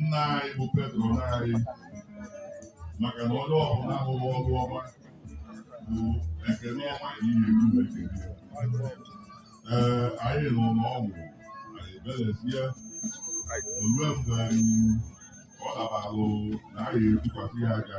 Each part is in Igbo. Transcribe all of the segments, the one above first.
nna anyị bụ Patron anyị maka na onye ọbụla ahụghị ọrụ ọma bụ ekele ọma ka ihe eru ekele ee anyị nọ n'ọgwụ anyị belezie olue mgbe ọ dabalụ na anyị etukwasị ya aja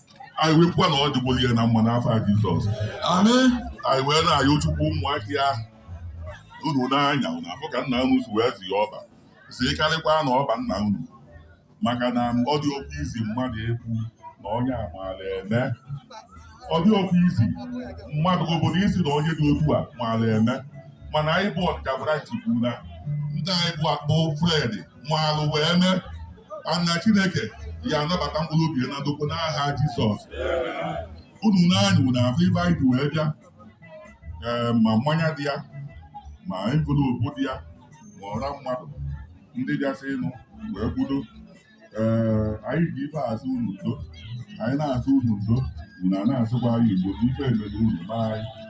anyị wee kwukwa na ọ dịgboro ya na mma n'afa Jizọs Amen. anyị wee na-ayọ Chukwu ụmụaka ya unu n'anya unu afụ ka nna unu si wee zi ya ọba si karịkwa na ọba nna unu maka na ọ dị oke izi mmadụ ekwu na onye amaala eme ọ dị oke izi mmadụ obodo isi na onye dị otu a maala eme mana anyị bụ Onitsha branch kwuru na ndị anyị bụ akpụ Fred maalụ wee mee ana chineke ya anabata mkpụrụ obi ya na ndokwa n'aha jizọs unu n'anya unu afụ ife anyị ji wee bịa ee ma mmanya dị ya ma envelopu dị ya ma ọra mmadụ ndị bịasịnụ wee kwudo ee anyị ji ife asị unu udo anyị na-asị unu udo unu a na-asịkwa anyị udo na ife emere unu ma anyị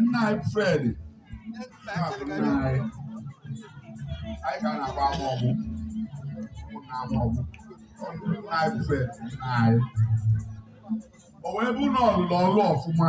nna anyị Fred anyị ka na-agba ama ọgbụ na ama ọgbụ nna anyị Fred nna anyị o wee bụ na ọ lụlụ ọlụ ọfụma